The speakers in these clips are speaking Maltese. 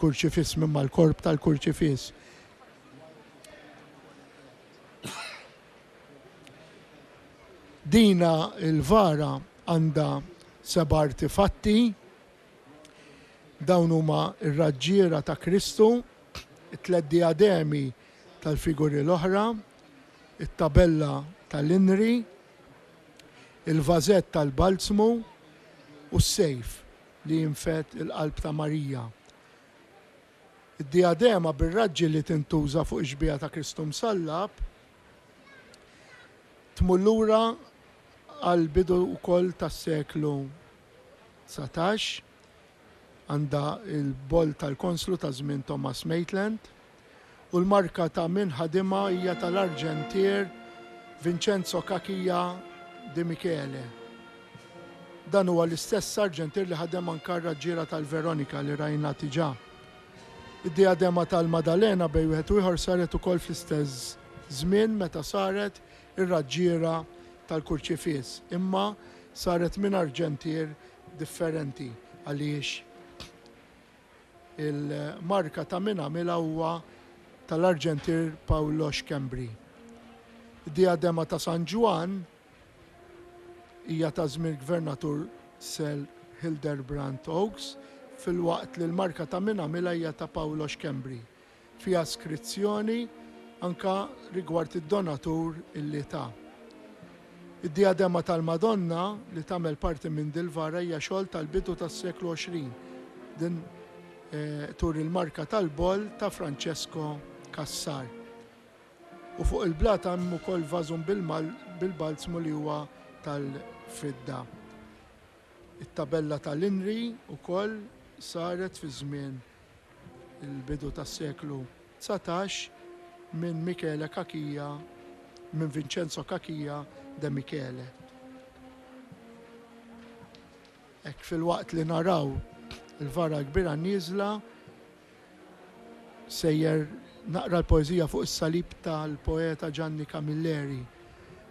Kurċifiss minn mal-korp tal-kurċifiss. Dina l-vara għandha seba' artifatti. Dawn huma r-raġġiera ta' Kristu, it-tliet dijademi tal-figuri l-oħra, it-tabella tal-inri, il-vażett tal-balzmu u s-sejf. li jinfed il-qalb ta' Marija. Id-dijadema bir-raġġi li tintuża fuq ix-xbieha ta' Kristu Msallab tmur lura għall-bidu wkoll tas-seklu dsatax, għandha l-boll tal-konslu ta' żmien Thomas Maitland. u l-marka ta' min ħadimha hija tal-arġentier Vincenzo Cachia Di Michele. Dan huwa l-istess arġentier li ħadem anka r-raġġiera tal-Veronika li rajna diġà. Id-dijadema tal-Madalena bejn wieħed u ieħor saret ukoll fl-istess żmien meta saret ir-raġġiera tal-Kurċifiss, imma saret minn arġentier differenti. Għaliex? Il-marka ta' min għamilha huwa tal-arġentier Paolo Schembri. Id-diadema ta' San Ġwann hija ta' żmien il-Gvernatur Sir Hildebrand Oakes, filwaqt li l-marka ta' min għamilha hija ta' Paolo Schembri. fi askrizzjoni anke rigward id-donatur li ta. Id-dijadema tal-Madonna li tagħmel parti minn dil-vara hija xogħol tal-bidu tas-seklu 20. Din turi il-marka tal-boll ta' Francesco Cassar. U fuq il-blat hemm ukoll vażum bil-balzmu li huwa tal-fidda. It-tabella tal-inri ukoll saret fi żmien il-bidu tas-seklu dsatax, minn Michele Cachia, minn Vincenzo Cachia de Michele. Hekk filwaqt li naraw il-vara l-kbira nieżla, sejjer naqra l-poeżija fuq is-salib tal-poeta Gianni Camilleri.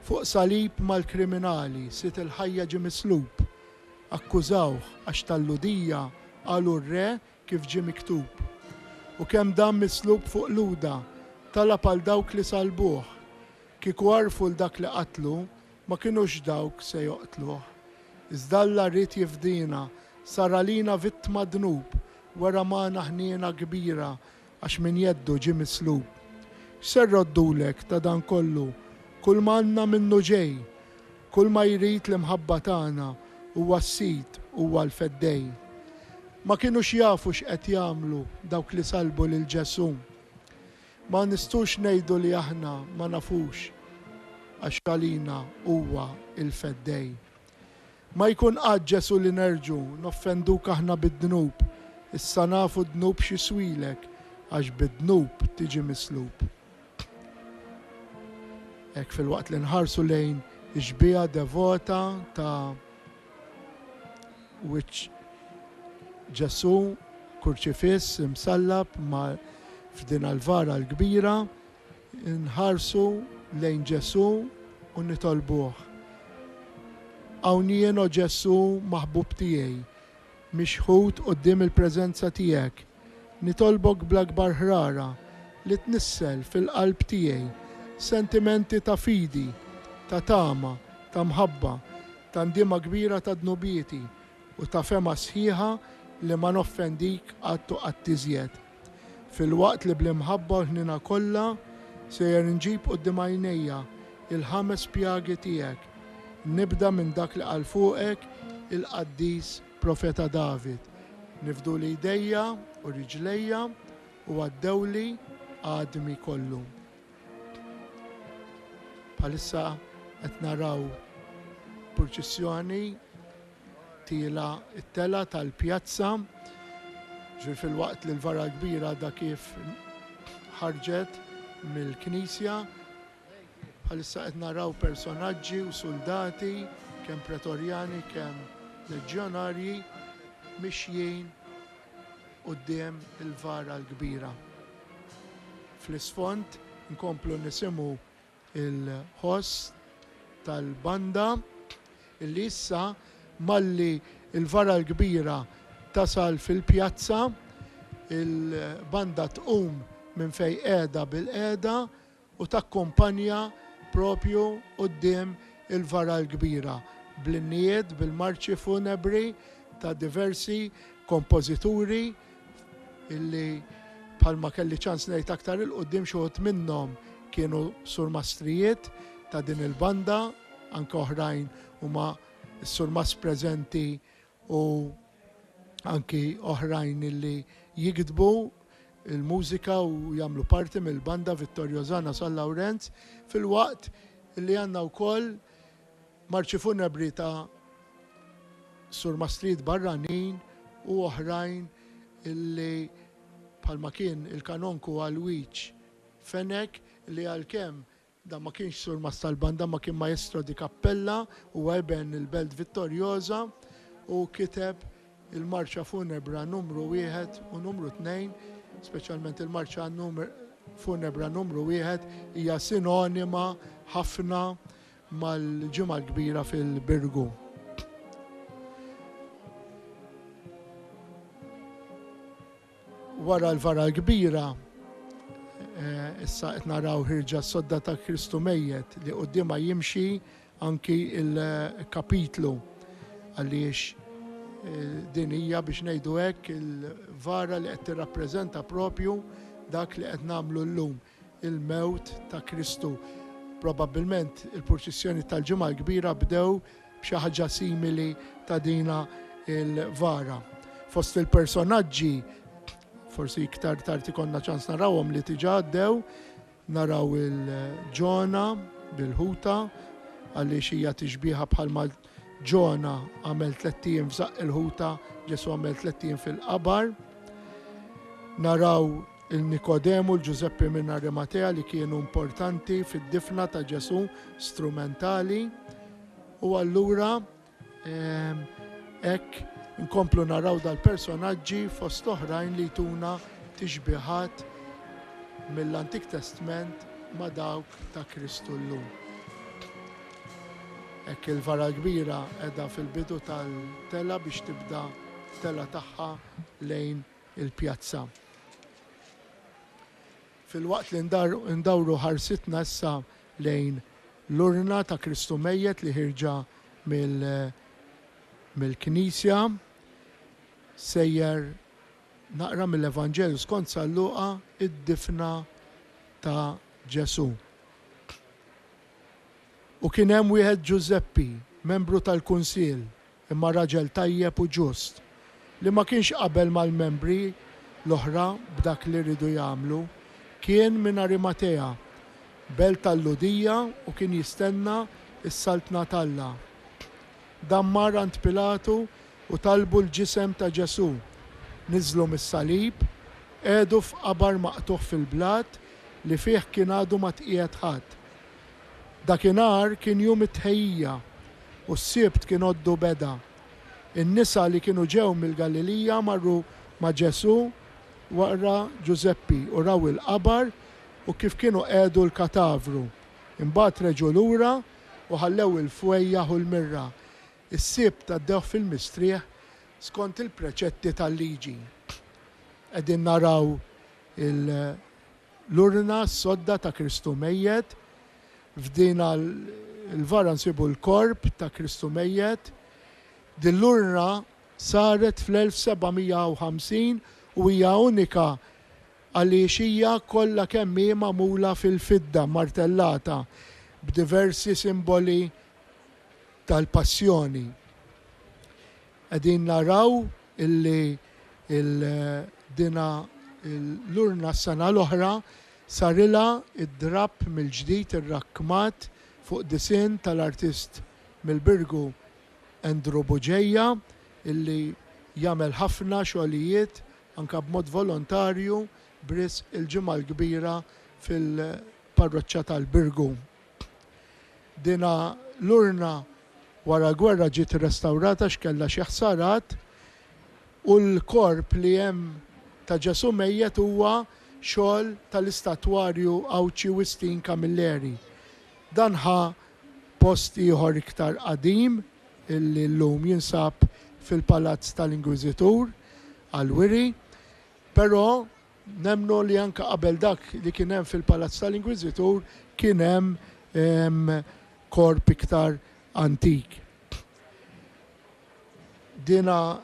Fuq salib mal-kriminali, sid il-ħajja ġie mislub, Akkużawh għax tal-Lhudija qalu r-re kif ġie miktub. U kemm dan mislub fuq Luda, talab għal dawk li sallbuh. Kieku għarfu 'l dak li qatlu, ma kinux dawk se joqtluh. Iżda Alla ried jifdina, sar għalina vittma dnub, wera magħna ħniena kbira Għax minn jeddu ġie mislub. X'se rroddulek ta' dan kollu? Kull ma għandna minnu ġej. Kull ma jrid l-imħabba tagħna huwa s-Sid, huwa l-Feddej. Ma kinux jafu x'qed jagħmlu dawk li sallbu lil Ġesù. Ma nistgħux ngħidu li aħna ma nafux għax għalina huwa l-Feddej. Ma jkun qatt Ġesu' li nerġu' noffenduk aħna bid-dnub, issa nafu d-dnub x'jiswilek, għax bid-dnub tiġi mislub. Hekk filwaqt li nħarsu lejn ix-xbieha devota ta' wiċċ Ġesu' kurċifiss imsallab ma' f'din Alvara l-kbira, Inħarsu lejn Ġesù u nitolbuh, Hawn jien, O Ġesù maħbub tiegħi, mixħut quddiem il-preżenza tiegħek. Nitolbok bl-akbar ħrara li tnissel fil-qalb tiegħi sentimenti ta' fidi, ta' tama, ta' mħabba, ta' ndiema kbira ta' dnubieti u ta' fehma sħiħa li ma noffendik qatt u qatt iżjed. Filwaqt li bl-imħabba u l-ħniena kollha sejjer inġib quddiem għajnejja l-ħames pjagi tiegħek, nibda minn dak li qal fuqek il-qaddis profeta David, Nifduli jdejja u riġlejja u għaddewli għadmi kollu. Bħalissa qed naraw purċissjoni Tiela' t-telgħa tal-pjazza, ġifieri filwaqt li l-vara l-kbira għadha kif ħarġet mill-knisja. Bħalissa qed naraw personaġġi u suldati, kemm pretorjani, kemm leġjonarji, mixjin quddiem il-vara l-kbira. Fl-isfond inkomplu nisimgħu il-ħoss tal-banda li issa malli l-vara l-kbira tasal fil-pjazza, il-banda tqum minn fejn qiegħda bilqiegħda u takkumpanja propju quddiem il-vara l-kbira bl-innijiet, bil-marċi funebri ta' diversi kompożituri, illi bħalma kelli ċans ngħid aktar il quddiem xi wħud minnhom kienu surmastrijiet ta' din il-banda, anke oħrajn huma s-surmas preżenti u anki oħrajn illi jikdbu il-mużika u jagħmlu parti mill-banda Vittorio Zana San Lawrenz fil-waqt li għandna wkoll Marċi funebri ta' surmastrid barranin u oħrajn li bħalma kien il-Kanonku Alwiġ Fenech li għalkemm dan ma kienx surmast tal-banda imma kien maestro di cappella huwa iben il-Belt Vittoriosa u kiteb il-marċa funebra numru wieħed u numru tnejn speċjalment il-marċa funebra numru wieħed hija sinonima ħafna mal-Ġimgħa l-Kbira fil-Birgu. Wara l-Vara l-Kbira, eh, issa qed naraw ħirġa sodda ta' Kristu mejjet li qudiema jimxi anki il-kapitlu għaliex eh, din hija biex ngħidu hekk il-vara li qed tirrappreżenta propju dak li qed nagħmlu llum. il-mewt ta' Kristu. Probabbilment il-purċissjoni tal-Ġimgħa l-Kbira bdew b'xi ħaġa simili ta' dina il-vara. Fost il-personaġġi forsi iktar tard ikonna ċans narawhom li tiġa għaddew, naraw il-ġona bil-ħuta, għaliex hija tixbiħa bħalma ġona għamel tlettijin f'żaq il-ħuta, ġesu għamel tlettijin fil-qabar. Naraw il-Nikodemu, l-Ġużeppi minn Arimatea li kienu importanti fid-difna ta' Ġesù, strumentali. U allura hekk nkomplu naraw dal-personaġġi fost oħrajn li jtuna tixbihat mill-Antik Testment ma' dawk ta' Kristu llum. Hekk il-vara kbira qiegħda fil-bidu tal-tela biex tibda tela tagħha lejn il-pjazza. Filwaqt li ndawru ħarsitna issa lejn l-urna ta' Kristu Mejjet li ħierġa mill-Knisja, sejjer naqra mill-Evanġelju skont San Luqa d-difna ta' Ġesù. U kien hemm wieħed Ġużeppi, membru tal-kunsill, imma raġel tajjeb u ġust, li ma kienx qabel mal-membri l-oħra b'dak li riedu jagħmlu. Kien minn Arimatea, belt tal-Lhudija u kien jistenna s-Saltna t'Alla. Dan mar għand Pilatu u talbu l-ġisem ta' Ġesù. Niżżlu mis-salib, qiegħdu f'qabar maqtugħ fil-blat li fih kien għadu ma tqiegħed ħadd. Dakinhar kien jum it-Tħejjija u s-Sibt kien għoddu beda. In-nisa li kienu ġew mill-Galilija marru ma' Ġesù wara Ġużeppi u raw il-qabar u kif kienu qegħdu l-katavru. Imbagħad reġgħu lura u ħallew il-fwejjaħ u l-mirra. Is-Sibt għaddewh fil-mistrieħ skont il-preċetti tal-Liġi. Qegħdin naraw il- L-urna sodda ta' Kristu mejjet, f'din 'l vara nsibu l-korp ta' Kristu mejjet. Din l-urna saret fl-1750 u hija unika għaliex hija kollha kemm hi magħmula fil-fidda mmartellata b'diversi simboli tal-Passjoni. Qegħdin naraw illi l-dina l-urna s-sena l-oħra sarilha d-drapp mill-ġdid irrakkmat fuq disinn tal-artist mill-Birgu Andrew Buġeja illi jagħmel ħafna xogħlijiet anke b'mod volontarju b'risq il-Ġimgħa l-Kbira fil-Parroċċa tal-Birgu. Din l-urna wara l-gwerra ġiet irrestawrata għax kellha xi ħsarat u l-korp li hemm ta' Ġesù mejjet huwa xogħol tal-istatwarju Għawdxi Wistin Camilleri. Dan ħa post ieħor iktar qadim li llum jinsab fil-Palazz tal-Inkwiżitur għall-wiri, però, Nemmnu li anke qabel dak li kien hemm fil-palazz tal-Inkwiżitur kien hemm korp iktar antik. Dina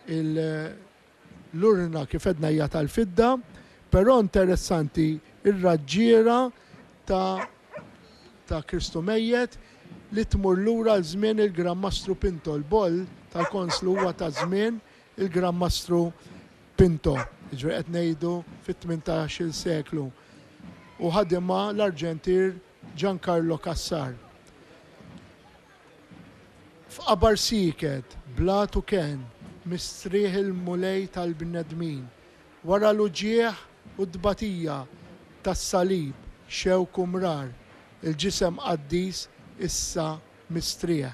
l-urna kif għedna hija tal-fidda, però interessanti r-raġġiera ta' ta' Kristu mejjet li tmur lura għal żmien il-Gran Mastru Pinto. Il-boll tal-konslu huwa ta' żmien Il-Gran Mastru Pinto, jiġifieri qed ngħidu fit-tmintax-il seklu, u ħadimha l-arġentier Giancarlo Cassar. F'qabar sieket, blat u kenn, mistrieħ il-Mulej tal-bnedmin, wara l-uġigħ u t-tbatija tas-salib, xewk u mrar, il-ġisem qaddis issa mistrieħ.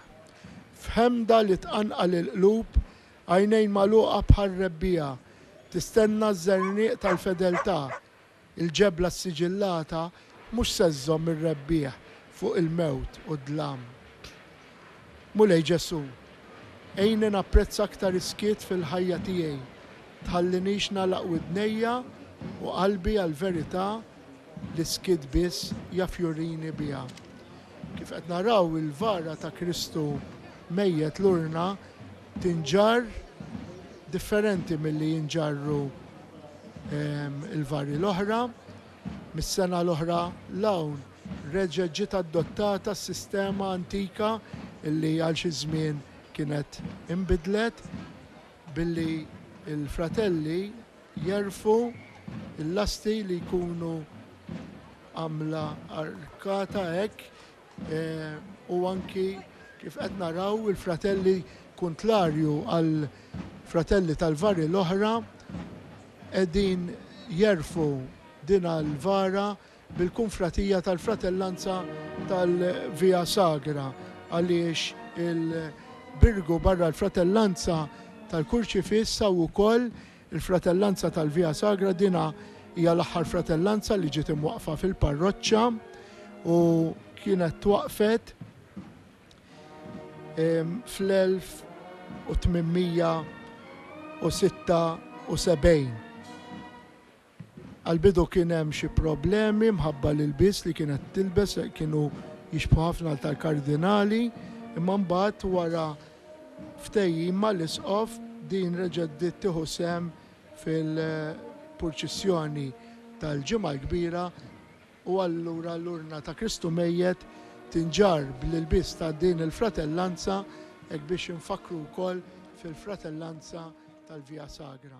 F'ħemda li tqanqal il-qlub, għajnejn magħluqa bħar-rebbiegħa, tistenna ż-żerniq tal-fedeltà. Il-ġebla ssiġillata mhux se żżomm ir-rebbieħ fuq il-mewt u d-dlam. Mulej Ġesù, għinni napprezza aktar is-skiet fil-ħajja tiegħi. Tħallinix nagħlaq widnejja u qalbi għall-verità L-iskit biss jaf jurini biha. Kif qed naraw il-vara ta' Kristu mejjet l-urna tinġarr differenti milli jinġarru l-vari l-oħra. Mis-sena l-oħra 'l hawn reġgħet ġiet adottata s-sistema antika li għal xi żmien kienet inbidlet billi l-fratelli Jegħrfu l-lasti li jkunu għamla arkata hekk u anki kif qed naraw il-fratelli kuntlarju għal fratelli tal-vari l-oħra qegħdin jegħrfu din għall-vara bil-Kunfratija tal-Fratellanza tal-Via Sagra għaliex il-Birgu barra l-Fratellanza tal-Kurċifiss hawn ukoll il-Fratellanza tal-Via Sagra dinha hija l-aħħar fratellanza li ġiet imwaqqfa fil-parroċċa u kienet twaqqfet fl-1876. Għall-bidu kien hemm xi problemi mħabba l-ilbies li kienet tilbes kienu jixbħu ħafna għal tal-kardinali, imma mbagħad wara ftehim mal-isqof din reġgħet bdiet tieħu sehem fil-purċissjoni tal-Ġimgħa l-Kbira. U allura l-urna ta' Kristu mejjet tinġarr bl-ilbies ta' din il-fratellanza hekk biex infakkru wkoll fil-fratellanza tal-Via Sagra.